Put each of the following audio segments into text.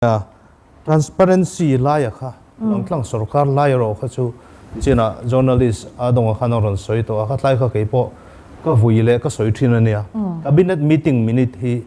A. Transparency laia kha rawn tlang sorkar lai erawh kha chu chinah journalist a dawngah khan a rawn sawi tawh a, khatlai kha kei pawh ka vui leh ka sawi thin a nia. Cabinet meeting minute hi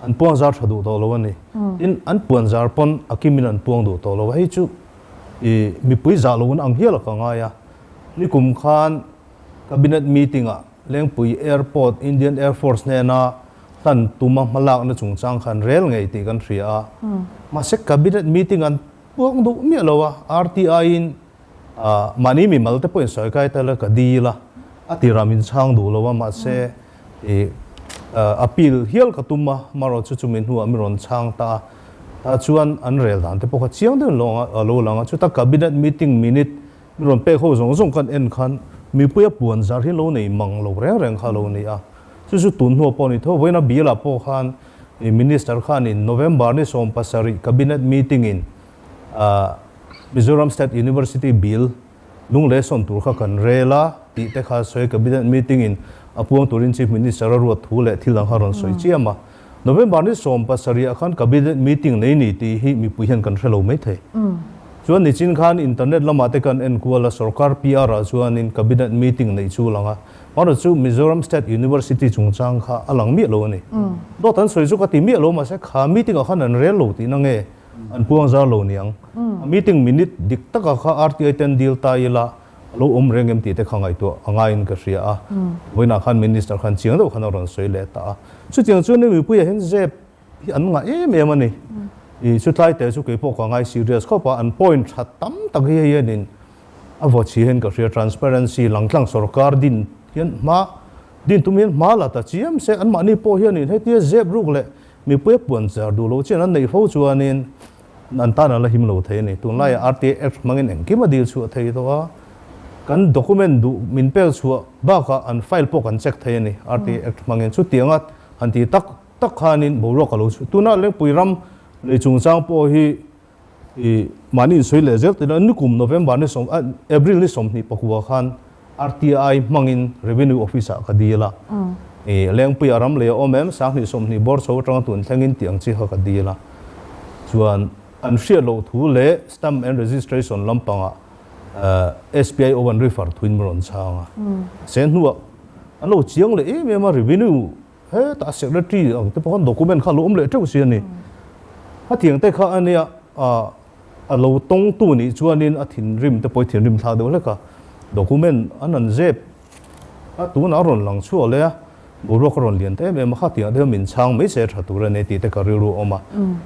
an puang zar tha duh tawh lo a ni. Tin, an puan zar pawn a kimin an puang duh tawh lo a, hei chu i mipui zah loin ang hial a ka ngai a. Nikum khan cabinet meeting ah Lengpui Airport Indian Air Force hnena hlan tum a hmalakna chungchang khan rel ngei tih kan hria a, mahse Cabinet meeting an puak duh miah lo a, RTI-in mahni mimal te pawhin sawikai ta ila ka di ila a tira min chhang duh lo a, mahse appeal hial ka tum a, marawh chu chumi hnuah min rawn chhang ta a, ta chuan an rel dan te pawh kha chiang deuhin lo anga lo lang a, chuta Cabinet meeting minute Mi rawn pek ho zawng zawng kan en khan mipui a puan zar hi lo nei mang lo reng reng kha lo ni a, chu chu tun hnu a pawh a ni tho. Vawiina Bial ah pawh khan i Minister khan in November ni sawm pasarih Cabinet meeting in ah Mizoram State University Bill lung lehsawn tur kha kan rel a tih te kha sawi Cabinet meeting in a puang turin Chief Minister a ruat thu leh thil ang kha rawn sawi chiam a. November ni sawm pasarih ah khan cabinet meeting nei ni tih hi mipui hian kan hre lo mai thei. Chuan nichin khan internet lamah te kan enkual a, sorkar PR ah chuanin cabinet meeting neih chu a lang a, mahra chu Mizoram State University chungchang kha a lang miah lo a ni. Dawt an sawi chu ka ti miah lo mahse kha meeting ah khan an rel lo tihna nge an puang zar lo niang. A meeting minute dik takah kha RTI ten deal ta ila A lo awm reng em tih te kha ngaihtuah a ngaiin ka hria a, vawiinah khan Minister khan chiang deuh khan a rawn sawi leh ta a. Chutiang chuan hemi mipuiah hian zep hi an ngah em em a ni. I chutlai te chu keipawh ka ngai serious khawp a, an point tha tam tak hi hei hian in a vaw chhia hian ka hria, transparency, langtlang sorkar din hian hma, din tum hian hma la ta chiam se. Anmahni pawh hian in hetia zep ruk leh mipui a puan char duh loh chian an neih fo chuanin, An tana la him lo thei a ni. Tunlaiah rta Act hmangin engkim a dil chu a thei tawh a. Kan document duh min pel chhuah bakah an file pawh kan check thei a ni rta Act hmangin. Chutianga han ti tak tak khanin boruak a lo chhuah. Tuna Lengpui ram lei chungchang pawh hi ih mahni insawi leh zel tih loh a, nikum November ni sawm April ni sawmhnih pakua khan, RTI hmangin Revenue Office-ah ka dil a, i Lengpui a ram leh a awm em? Sanghnih sawmhnih bawr chho atanga tun thleng in tih ang chi kha ka dil a, chuan an hriat loh thu leh Stamp and Registration lampangah SPIO an refer thuin min rawn chhang a, se hnuah an lo chiang leh em em a, Revenue Hetah secretary ang te pawh khan document kha a lo awm leh teuh si a ni. A tiang te kha a nia ah a lo tawng tu nih chuanin a thinrim te pawh i thinrim thla deuh hlek a, document an han zep a tunah a rawn lang chhuah leh a, boruak a rawn lian ta em em a, khatiang te hian min chhang mai se tha tur a ni tih te ka rilru a awm a.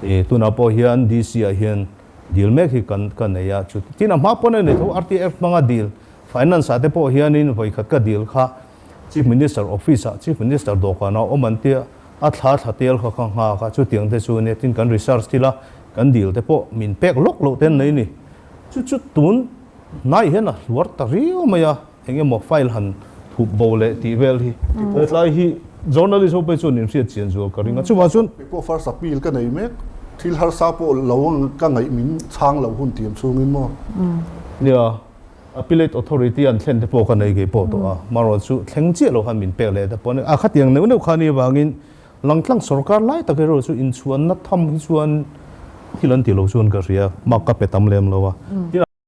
I tunah pawh hian DC ah hian dil mek hi kan ka nei a, chu tin a hma pawn a ni tho, RTF hmanga dil, finance ah te pawh hianin vawikhat ka dil kha, Chief Minister Office ah Chief Minister dawhkan ah awm an tia, a thla thla tel kha kha nghak a, chutiang te chu nia tin kan research thil a kan dil te pawh min pek lawk loh te an nei ni. Chu chu tun hnai hian a hluar ta riau mai a, eng emaw file han thup bo leh tih vel hi. Hetlai hi journalist ho pawh chuan inhriat chian zual ka ring a, chuvang chuan. Kei pawh first appeal ka nei mek, thil harsa pawh lo ka ngaih min chhang lo hun tiang chungin maw? Nia. Appellate Authority an thlen te pawh ka nei ngei pawh tawh a, mahrawl chu thleng chiah lo khan min pek leh te pawh a ni. A khatiang neuh neuh khani avangin Langtlang sawrkar lai tak erawh chu inchhuanna tham hi chuan thil an tih loh chuan ka hria, mark ka pe tam lem lo a.